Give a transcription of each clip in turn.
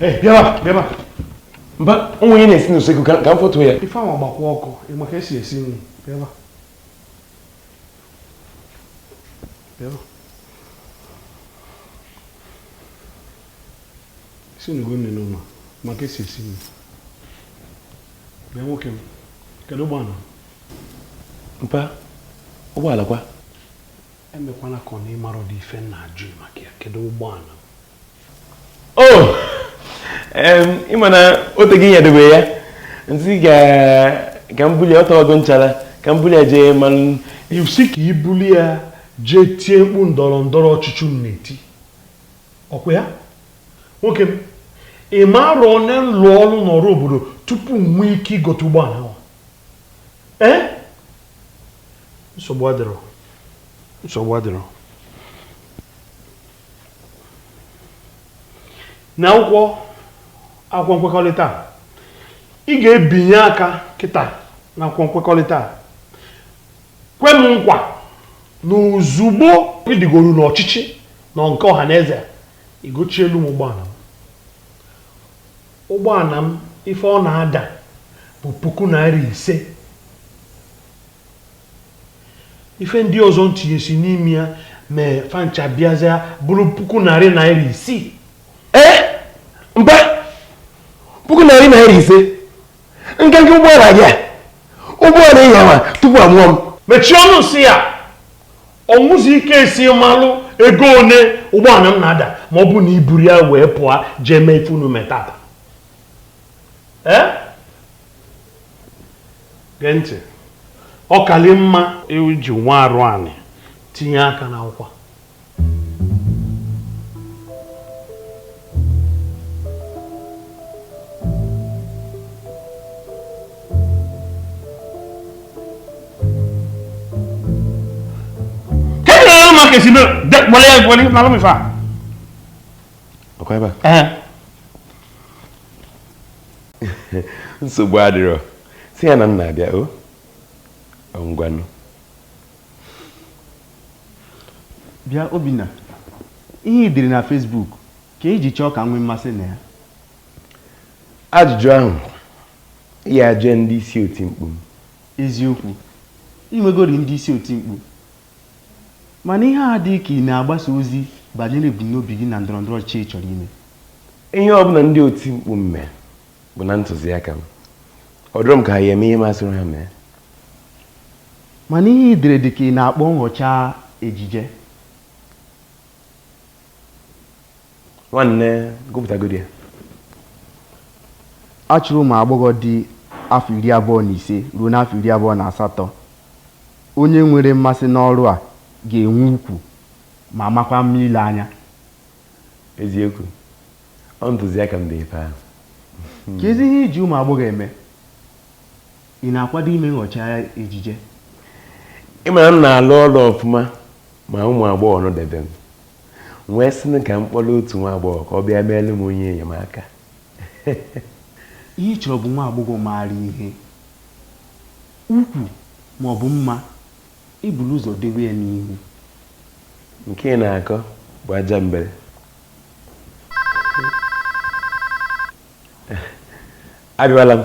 Hey, bịaba, bịaba. Mba, o nwere ihe na-esi n'usekwu ka m fotu ya. Ife ahụ ọ gbakwa ọkụ, ị maka esi esi nri. Bịaba. Bịaba. Isi n'ugo nne n'ụlọ, maka esi esi nri. Bịa nwoke m, kedu ụgbọala? Mpa, ụgbọala kwa. Emekwana ka ọ na ị marọdị ife m na-ajụ ị maka ya kedu ụgbọala m Oh! Em, ị ma na o tego i debe ya m sị ka ka m bulu ya ọ tago nchara ka m bulu ya jee mmanụ ị sị ka i bulu ya jee tie mkpu ndọrọ ndọrọ ọchịchị unu na-eti ọ kwa ya nwoke m ị ma arọ one m lụ ọlụ n'ọrụ obodo tupu m nwee ike igote ụgbọala ahụ ee nsogbu adịrọ nsogbu adịrọ na akwụkwọ akwụkwọ nkwekọrịta a ị ga-ebinye aka kịta na akwụkwọ nkwekọrịta a kwe m nkwa na ozugbo ị rigoro n'ọchịchị unu nke ọha na eze a ị gochielu m ụgbọala m Ụgbọala m, ife ọ na-ada bụ puku naira ise. Ife ndị ọzọ m tinyesi n'ime ya mee fa ncha bịazịa bụrụ puku narị naira isii. Ee, mba, puku narị naira ise nkenke ụgbọala gị a ụgbọala ị nyawa tupu a mụọ m Mechie ọnụ nsị ya! ọ wụzi ị kee esi malụ ego one ụgbọala m na-ada ma ọ bụ na i buru ya wee pụọ jee mee ife unu metata ee gee ntị ọ kali mma i ji nwa arụ anị tinye aka n'akwụkwọ kee si no. Wale ya wale na lomi fa. Ọkọ ebe. Eh. Nsogbu adịrọ. Sị ya na m na-abịa o. Ngwanụ. Bịa Obinna, ihe i dere na Facebook ka i ji chọọ ka m nwee mmasị na ya. Ajụjụ ahụ ị ya-ajụ ndị isi oti mkpu m. Eziokwu, i nwegorị ndị isi oti mkpu. Mana ihe a adịghị ka ị na-agbasa ozi banyere ebumnobi gị na ndọrọndọrọ ọchịchị ị chọrọ ime. Ihe ọbụla ndị oti mkpu m mee, bụ na ntụziaka m ọ dụrụ m ka anyị eme ihe m sịrị ha mee mana ihe i dere dị ka ị na-akpọ nghọcha ejije nwanne gụpụtagodi ya a chọrọ ụmụ agbọghọ dị afọ iri abụọ na ise ruo n'afọ iri abụọ na asatọ onye nwere mmasị n'ọrụ a ga-enwe ukwu ma makwa mma ile anya eziokwu ọ ntụziaka m dee ife ahụ kezi ihe i ji ụmụ agbọghọ eme ị na-akwado ime nghọcha ejije ị ma na m na-alụ ọlụ ọfụma ma ụmụ agbọghọ nọdebe m wee sị ka m kpọrọ otu nwa agbọghọ ka ọ bịa meere m onye enyemaka ihe ị chọrọ bụ nwa agbọghọ maara ihe ukwu ma ọ bụ mma I buru ụzọ dewe ya n'ihu. Nke ị na-akọ bụ ajambele. Abịawala m,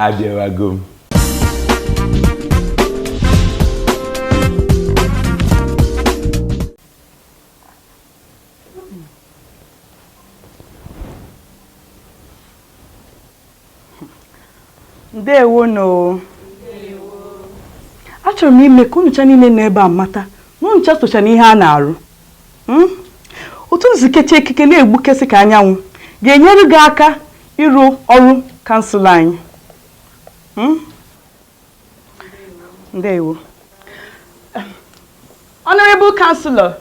abịawago m. ndewo nụ achọrọ m ime ka unucha niile nọ ebe a mata na unucha socha na ihe a na-arụ hmm? otu unu si kecha ekike na-egbukesị ka anyanwụ ga-enyere gị aka ịrụ ọrụ kansụl anyị hmm? ndewo honorable councillor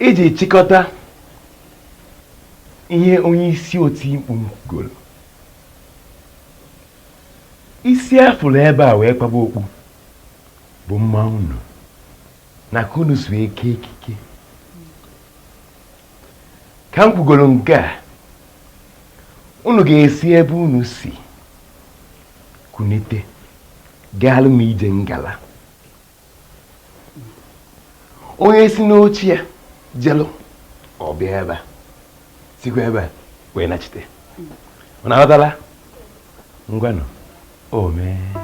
iji chịkọta ihe onye isi oti mkpu kwugoro isi a fụrụ ebe a wee kpaba okpu bụ mma unu na ka unu si wee kee ekike ka m kwugoro nke a unu ga-esi ebe unu si kunite gaalụ m ije ngala onye si n'oche ya jelụ ka ọ bịa ebe a sikwa ebe a wee nachite unu aghọtala ngwanụ o mee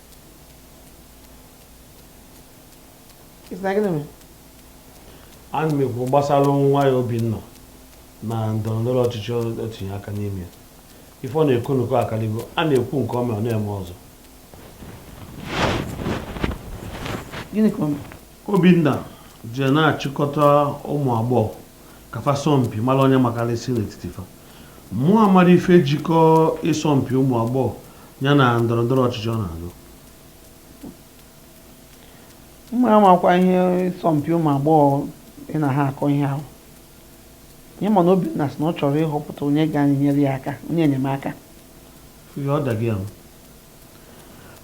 ana m ekwu gbasara nwa ya Obinna na ndọrọ ndọrọ ọchịchị o tinye aka n'ime ya ife ọ na-ekwu nnukwu akalịgo a na-ekwu nke o mere ọ na-eme ọzọ Obinna jee na-achịkọta ụmụ agbọghọ ka fa sọọ mpi mara onye makarịsị n'etiti fa Mụ amarọ ife jikọ ịsọmpi ụmụ agbọghọ ya na ndọrọndọrọ ọchịchị ọ na-azọ. Mụ amakwa ihe ịsọmpi ụmụ agbọghọ ị na ha akọ ihe ahụ. Ihe m ma na Obinna sị na ọ chọrọ ịhọpụta onye ga-enyere ya aka, onye enyemaka. Ihe ọ daghị ahụ.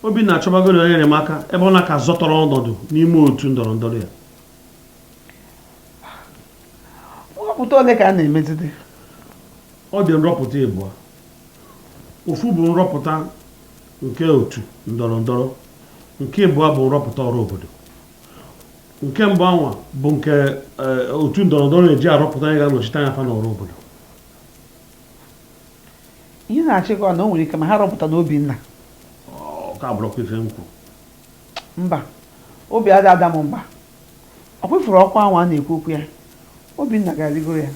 Obinna achọbagoro onye enyemaka ebe ọ na ka zọtarọ ọnọdụ n'ime otu ndọrọndọrọ ya. nrọpụta ole ka a na-emezide ọ dị nrọpụta ịbụa ofu bụ nrọpụta nke otu ndọrọ ndọrọ nke ịbụa bụ nrọpụta ọra obodo nke mbụ anwa bụ nke eh, otu ndọrọ ndọrọ na-eji arọpụta onye ga-anọchite anya fa n'ọra obodo ihe ị na-achọ ịkọ na o nwere ike ma ha arọpụtana Obinna ka abụrọkwa ife m kwu mba obi adị ada m mba Ọ kwefuru ọkwa anwa a na-ekwu okwu ya. Obinna ga-arịgoro ya.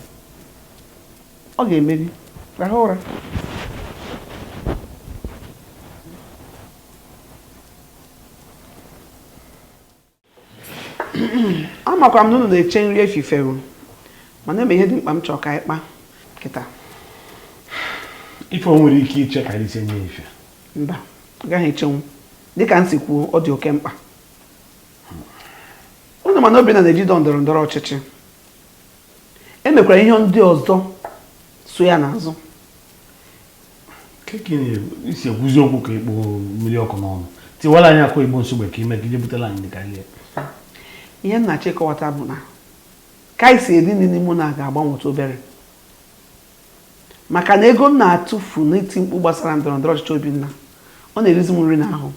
Ọ ga-emeri. Rahụ ụra. amakwa m na unu na-eche nri efifie o mana e nwe ihe dị mkpa m chọrọ ka anyị kpa kịta ife o nwere ike iche ka anyị sinye ife mba ọ gaghị echenwu dịka m si kwuo ọ dị oke mkpa ụnụ ma na Obinna na-eji dọ ndọrọ ndọrọ ọchịchị e nwekwara ihe ndị ọzọ so ya n'azụ i si ekwuzi okwu ka i kpu mmiri ọkụ n'ọnụ tiwara anyị akụ igbo nsogbe ka ime ka ije butela anyị ka ihe ihe m na-achọ ịkọwata bụ na ka anyị si eri nri n'ime ụnọ a ga-agbanwetụ obere maka na ego m na-atụfu n'iti mkpu gbasara ndọrọ ndọrọ ọchịchị Obinna ọ na-erizi m nri n'ahụ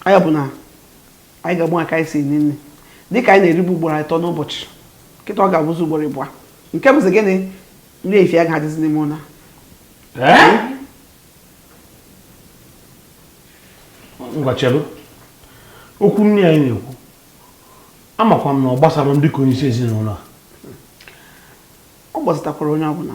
ọ ya bụ na anyị ga-agbanwe ka anyị si eri nni dịka anyị na-eribu ugboro ịtọ n'ụbọchị kịta ọ ga-abụzi ugboro ịbụa nke bụzi gịnị nri efifie aga-adịzi n'ime ụnọ a ngwa chelu okwu nni anyị na-ekwu amakwa m na ọ gbasara m dịka onye isi ezinụlọ a ọ gbasatakwara onye ọbụla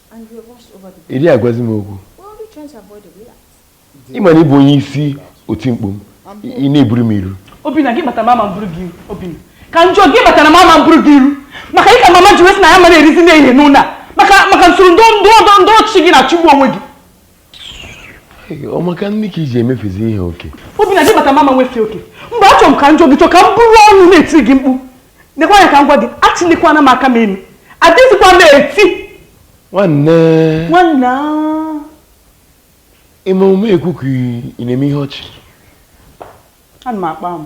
ị dịghị agwazi m okwu ị ma na ị bụ onye isi oti mkpu m ị na-eburu m iru Obinna gịnị kpatara m ama eburu gị iru Obinna ka njọ gịnị kpatara m ama eburu gị iru maka gị ka mama ji wee sị na anyị ama na-erizi nri ehihie n'ụlọ a maka maka usoro ndọrọ ndọrọ ọchịchị gị na-achụgbu onwe gị ọ maka nni ka i ji emefezi ihe oke Obinna gịnị kpata m ama emefe oke mgbe achọrọ m ka njọ ị chọ ka m bụrụ ọnụ na-eti gị mkpu nekwa anya ka m gwa gị eselikwana m aka m elu adịzikwa m eti nwanne nwanne ime omume ekwu ka ị na-eme ihe ọchị ana m akpa m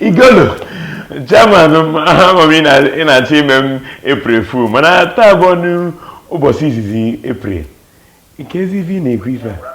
igolo chairman m ama m ị na-achọ ime m april fool mana taa abụrọnụ ụbọsị izizi april kezi ife ị na-ekwu ife a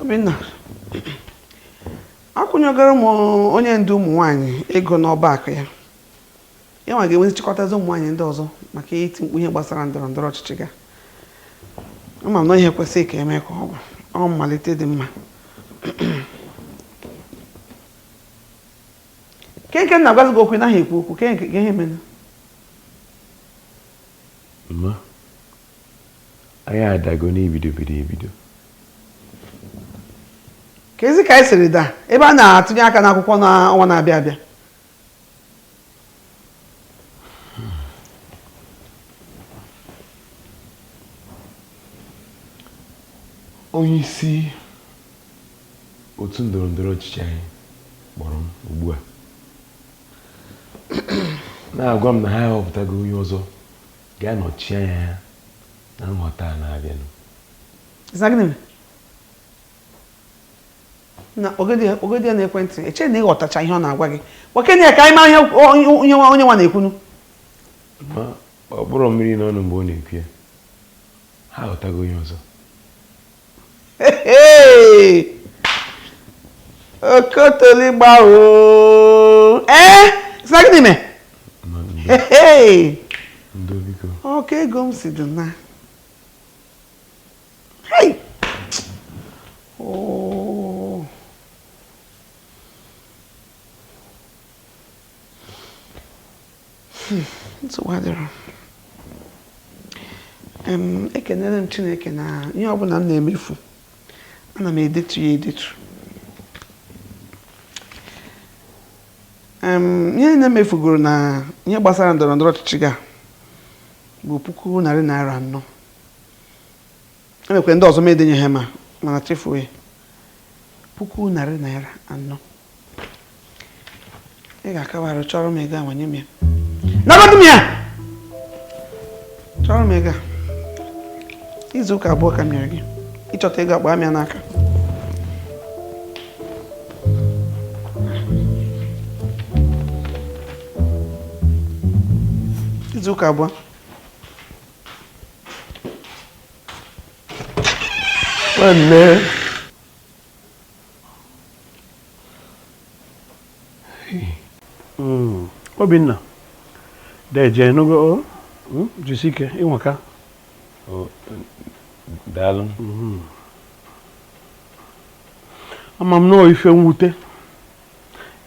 Obinna akwụnyegoro m onye ndu ụmụ nwanyị ego n'ọba akụ ya Ị ma ga-enwe ike chịkọtazi ụmụ nwaanyị ndị ọzọ maka iti mkpu ihe gbasara ndọrọ ndọrọ ọchịchị gị a ama m na ihe kwesịrị ka e mee ka ọ bụrụ mmalite dị mma kee nke m na-agwazi gị okwu ị naghị ekwu okwu kee ihe menụ mma anyị adago na ebidobero ebido kezi ka anyị siri daa ebe a na-atụnye aka n'akwụkwọ n'ọnwa na-abịa abịa onye isi otu ndọrọ ndọrọ ọchịchị anyị kpọrọ m ugbu a na-agwa m na ha ahọpụtago onye ọzọ ga-anọchi anya ya na nhọta a na-abịanụ na kpọgodi ya kpọgodi ya n'ekwentị eche m na ị ghọtacha ihe ọ na-agwa gị kpọkene ya ka anyị mara ihe onye onye nwa onye nwa na-ekwunu ma o burọ mmiri n'ọnụ mgbe ọ na-ekwu ya ha ahọtago onye ọzọ Hey! okotoli gbawo ee sị na gịnị mee ma ndo Hey! ndo biko ọ ka ego m si dị naa nsogbu adịrọ ekenere m chineke na ihe ọbụla m na-emefu ana m edetu ya edetu ihe niine m mefugoro na ihe gbasara ndọrọ ndọrọ ọchịchị gị a bụ puku narị naira anọ enwekwara ndị ọzọ m edenye ha ma mana chefuo ya puku narị naira anọ ị ga-akabarụ chọrọ m ego a wenye m ya nabadụ m ya chọrọ m ego a izu ụka abụọ ka m nyere gị ịchọta ego a kpaa m ya n'aka izu ụka abụọ nwanne hmm. obinna deje ị nụgo oh, hmm, jisi ike ị nwaka oh, daalụ hmm. ama m na ọ ife mwute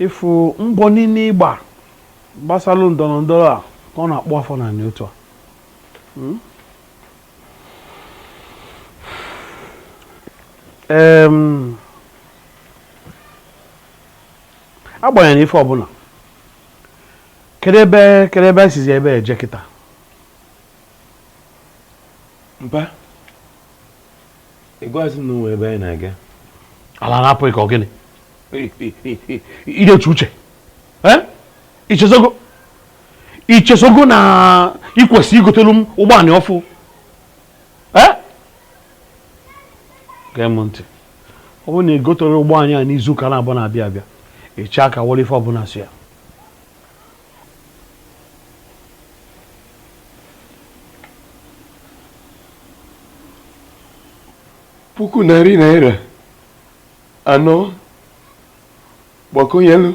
ịfụ mbọ niine ị gba gbasalu ndọlọ ndọlọ a ka ọ na-akpụ afọ n'ana otu a Hmm? agbanyeghị ife ọbụna kedu ebe kedu ebe esizi ebe a eje kịta mpa ịgwazi na o nwe ebe anyị na-aga ala na-apụ gị ka ọ gịnị idechi uche ichezogo ichezogo na ikwesị igotelu m ụgbọala ọfụụ eh? gee m ntị ọ bụrụ na igotero ụgbọ anị a n'izu ụka naabọ na-abịa abịa i chee aka wolu ife ọbụna so ya puku narị naira anọ gbakwunyelu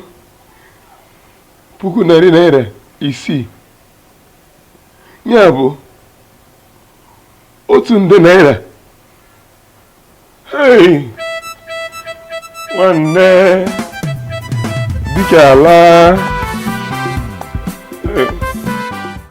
puku narị naira isii nya bụ otu nde naira hei nwanne dịka ala